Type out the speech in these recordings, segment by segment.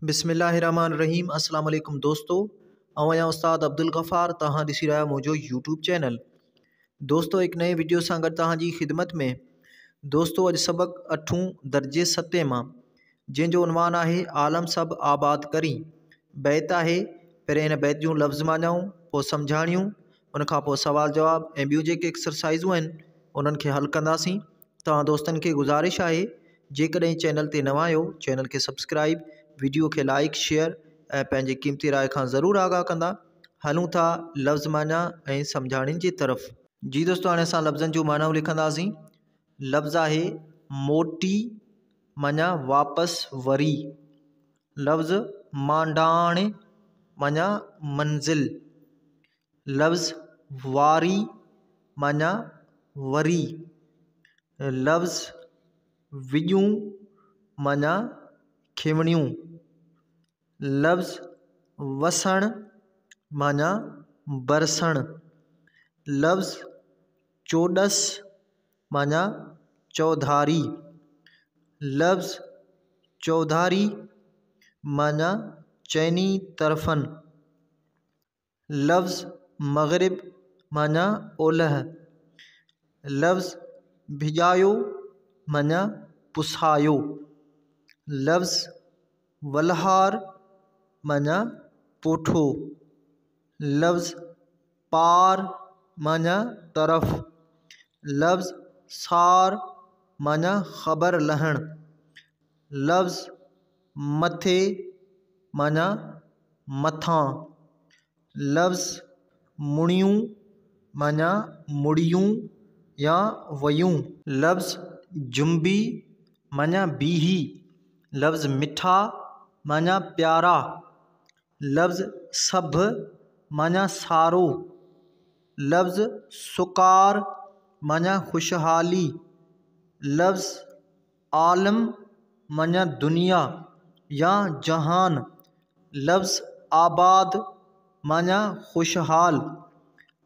بسم الله الرحمٰن الرحيم اسلام عليڪم دوستو آئون آهيان استاد عبدالغفار توهان ڏسي رهيا آهيو منهنجو يوٽيوب چينل دوستو هڪ نئين ويڊيو سان گڏ توهان جي خدمت ۾ دوستو اڄ سبق اٺون درجي ستين مان جنهن جو عنوان آهي عالم سڀ آباد ڪري بيت آهي پهرين هن بيت جون لفظ معنائون پوء سمجهاڻيون ان کان پوء سوال جواب ۽ ٻيون جيڪي ايڪسرسائزون آهن انهن کي حل ڪنداسين توهان دوستن کي گذارش آهي جيڪڏهن چينل تي نوان آهيو چينل کي سبسڪرائب وڊيو کي لائڪ شيئر ۽ پنهنجي قيمتي راء کان ضرور آگاهه ڪندا هلون ٿا لفظ معنيٰ ۽ سمجهاڻين جي طرف جي دوستو هاڻي اسان لفظن جون معنائون لکنداسين لفظ آهي موٽي معنيٰ واپس وري لفظ مانڊاڻ معنيٰ منزل لفظ واري معنيٰ وري، لفظ وڄون معنيٰ کيوڻيون، لفظ وسڻ معنيٰ برسڻ، لفظ چوڏس معنيٰ چوڌاري، لفظ چوڌاري معنيٰ چئني طرفن لفظ مغرب معنيٰ اولهه، لفظ ڀڄايو معنيٰ پسايو، لفظ ولهار معنيٰ پوٺو، لفظ پار معنيٰ طرف، لفظ سار معنيٰ خبر لهڻ، لفظ مٿي معنيٰ مٿان، لفظ مڙيون معنيٰ مڙيون يا ويون. لفظ جنبي معنيٰ بيهي، لفظ مٺا معنيٰ پيارا، لفظ سڀ معنيٰ سارو، لفظ سڪار معنيٰ خوشحالي، لفظ عالم معنيٰ دنيا يا جهان، لفظ آباد معنيٰ خوشحال،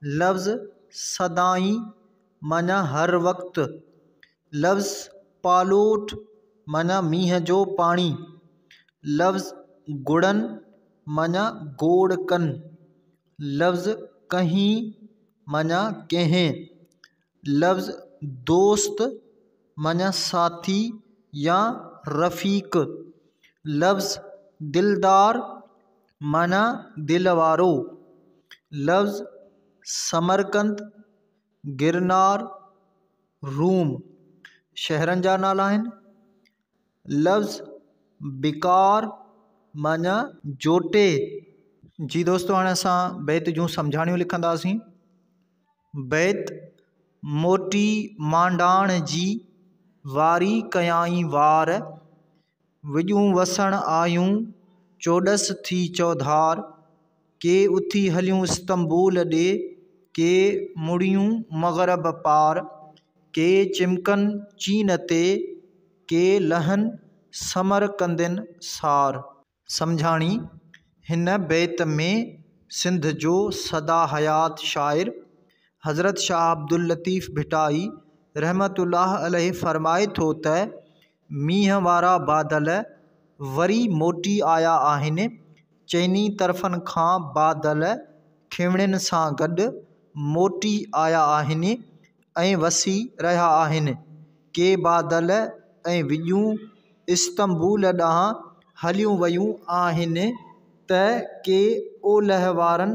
لفظ سدائين معنيٰ هر وقت، لفظ پالوٽ معنيٰ مينهن جو پاڻي، لفظ گڙن معنيٰ گوڙ ڪن، لفظ ڪهين معنيٰ ڪنهن، لفظ دوست معنيٰ ساٿي يا رفيق لفظ دلدار معنيٰ دل وارو لفظ سمرقند گرنار روم شهرن جا نالا آهن لفظ بڪار معنيٰ جوٽي جي دوستو هاڻي اسان بيت جون سمجهاڻيون لکنداسين بيت موٽي مانڊاڻ جي واري ڪيائين وار، وڄون وسڻ آيون چوڏس ٿي چوڌار، ڪي اٿي هليون استنبول ڏي، ڪي مڙيون مغرب پار، ڪي چمڪن چين تي، ڪي لهن سمرقندين سار. سمجهاڻي، هن بيت ۾ سنڌ جو سدا حيات شاعر حضرت شاهه عبداللطيف ڀٽائي رحمته الله عليه فرمائي ٿو ته، مينهن وارا بادل وري موٽي آيا آهن، چئني طرفن کان بادل کيوڻين سان گڏ موٽي آيا آهن، ۽ وسي رهيا آهن. ڪي بادل ۽ وڄون استنبول ڏانهن هليون ويون آهن ته ڪي اولهه وارن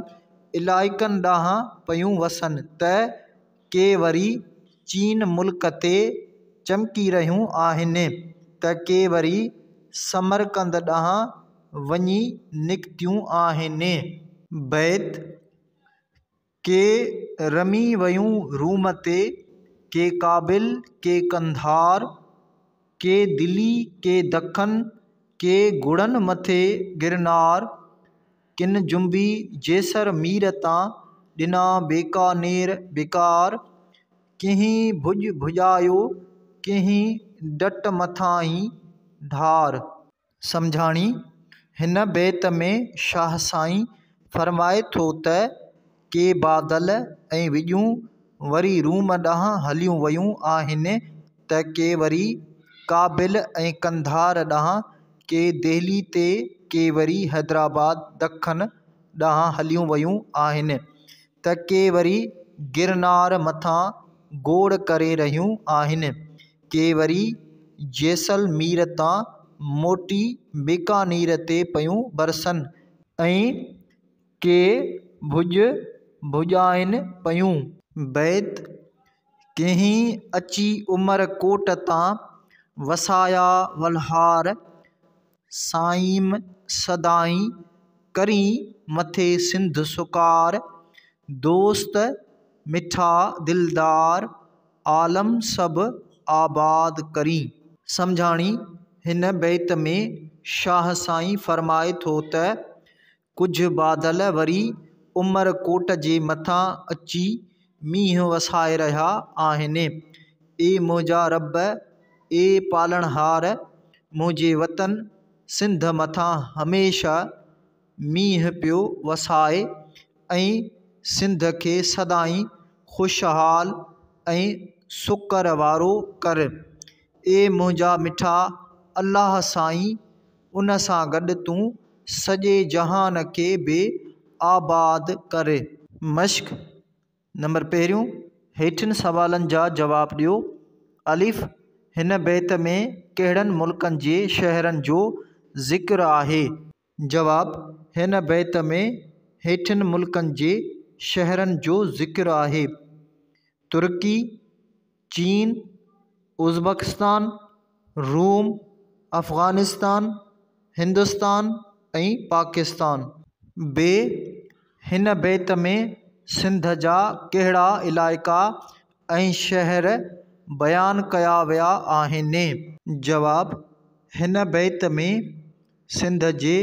علائقن ڏانهن پيون وسن ته ڪي وري چين ملڪ تي چمڪي رهيون آهن ته ڪي وري سمرقند ڏانهن وڃي نڪتيون آهن. بيت ڪي رمي ويون روم تي، ڪي ڪابل، ڪي قنڌار، ڪي دلي، ڪي دکن، ڪي گهوڙن مٿي گرنار، ڪن جنبي جيسر مير تان، ڏنا بيڪانير بيڪار، ڪنهين ڀڄ ڀڄايو، ڪنهين ڊٽ مٿانهين ڍار. سمجهاڻي، هن بيت ۾ شاهه سائين فرمائي ٿو ته، ڪي بادل ۽ وڄون وري روم ڏانهن هليون ويون آهن ته ڪي وري ڪابل ۽ قنڌار ڏانهن، ڪي دهلي تي ڪي وري حيدرآباد، دکن، ڏانهن هليون ويون آهن. ته ڪي وري گرنار مٿان گوڙ ڪري رهيون آهن، ڪي وري جيسلمير تان موٽي بيڪانير تي پيون برسن ۽ ڪي ڀڄ ڀڄائين پيون. بيت، ڪنهين اچي عمر ڪوٽ تان وسايا ولهار، سائيم سدائين ڪرين مٿي سنڌ سڪار دوست مٺا دلدار عالم سڀ آباد ڪرين. سمجهاڻي، هن بيت ۾ شاهه سائين فرمائي ٿو ته، ڪجهه بادل وري عمر ڪوٽ جي مٿان اچي مينهن وسائي رهيا آهن. اي منهنجا رب، اي پالڻهار، منهنجي وطن سنڌ مٿان هميشه مينهن پيو وساء ۽ سنڌ کي سدائين خوشحال ۽ سڪر وارو ڪر. اي منهنجا مٺا الله سائين! ان سان گڏ تون سڄي جهان کي به آباد ڪري. مشق، نمبر پهريون، هيٺين سوالن جا جواب ڏيو، الف، هن بيت ۾ ڪهڙن ملڪن جي شهرن جو ذڪر آهي؟ جواب، هن بيت ۾ هيٺين ملڪن جي شهرن جو ذڪر آهي، ترڪي، چين، ازبڪستان، روم، افغانستان، هندستان ۽ پاڪستان. بي، هن بيت ۾ سنڌ جا ڪهڙا علائقا ۽ شهر بيان ڪيا ويا آهن؟ جواب، هن بيت ۾ سنڌ جي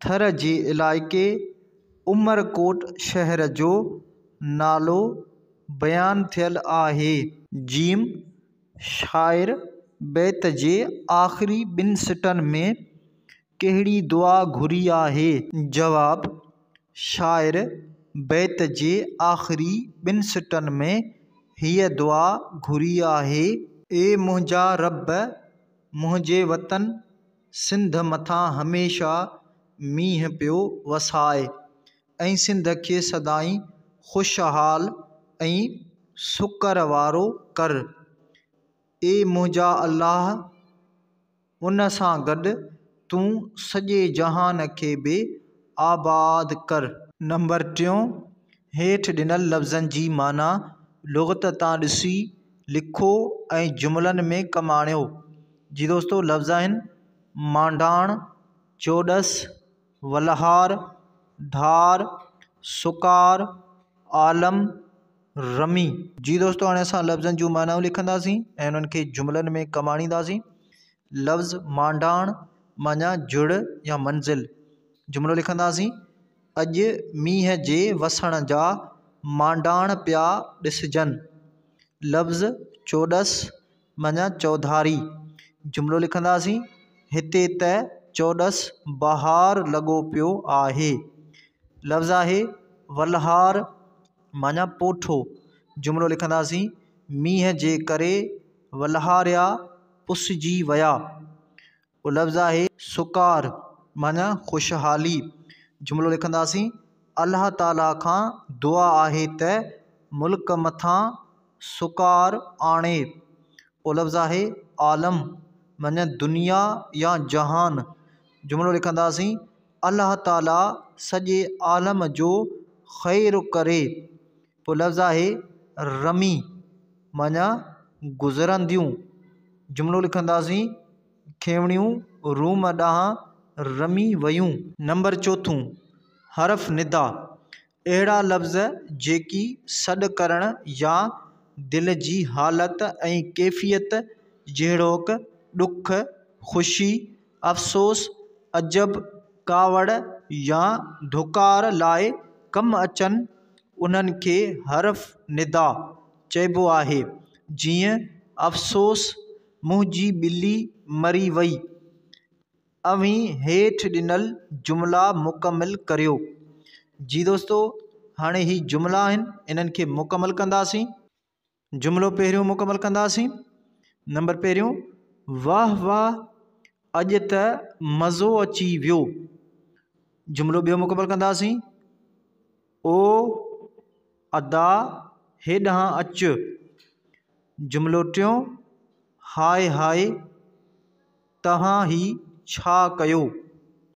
ٿر جي علائقي عمرڪوٽ شهر جو نالو بيان ٿيل آهي. ج شاعر بيت جي آخري ٻن سٽن ۾ ڪهڙي دعا گهري آهي؟ جواب، شاعر بيت جي آخري ٻن سٽن ۾ هيء دعا گهري آهي. اي منهنجا رب! منهنجي وطن سنڌ مٿان هميشه مينهن پيو وسائي ۽ سنڌ کي سدائين خوشحال ۽ سڪر وارو ڪر. اي منهنجا الله! ان سان گڏ تون سڄي جهان کي به آباد ڪر. نمبر ٽيون، هيٺ ڏنل لفظن جي معنيٰ لغت تان ڏسي لکو ۽ جملن ۾ ڪم آڻيو. جي دوستو لفظ آهن، مانڊاڻ، چوڏس، ولهار، ڌار، سڪار، عالم، رمي. جي دوستو هاڻي اسان لفظن جون معنائون لکنداسين ۽ انهن کي جملن ۾ ڪم آڻينداسين. لفظ مانڊاڻ معنيٰ جڙ يا منزل. جملو لکنداسين، اڄ مينهن جي وسڻ جا مانڊاڻ پيا ڏسجن. لفظ چوڏس معنيٰ چوڌاري. جملو لکنداسين، هتي ته چوڏس بهار لڳو پيو آهي. لفظ آهي ولهار معنيٰ پوٺو. جملو لکنداسين، مينهن جي ڪري ولهاريا پسجي ويا. اهو لفظ آهي سڪار معني خوشحالي. جملو لکنداسين، الله تعاليٰ کان دعا آهي ته ملڪ مٿان سڪار آڻي. اهو لفظ آهي عالم معني دنيا يا جهان. جملو لکنداسين، الله تعاليٰ سڄي عالم جو خير ڪري. پوء لفظ آهي رمي معنيٰ گذرنديون. جملو لکنداسين، کيوڻيون روم ڏانهن رمي ويون. نمبر چوٿون، حرف ندا، اهڙا لفظ جيڪي سڏ ڪرڻ يا دل جي حالت ۽ ڪيفيت جهڙوڪ ڏک، خوشي، افسوس، عجب، ڪاوڙ يا ڌڪار لاء ڪم اچن، انهن کي حرف ندا چئبو آهي، جيئن، افسوس، منهنجي ٻلي مري وئي. اوهين هيٺ ڏنل جملا مڪمل ڪريو. جي دوستو، هاڻي هي جملا آهن، انهن کي مڪمل ڪنداسين. جملو پهريون مڪمل ڪنداسين نمبر پهريون واھ واھ اڄ ته مزو اچي ويو جملو ٻيو مڪمل ڪنداسين او ادا هيڏانهن اچ جملو ٽيون هاء هاء توهان هي ڇا ڪيو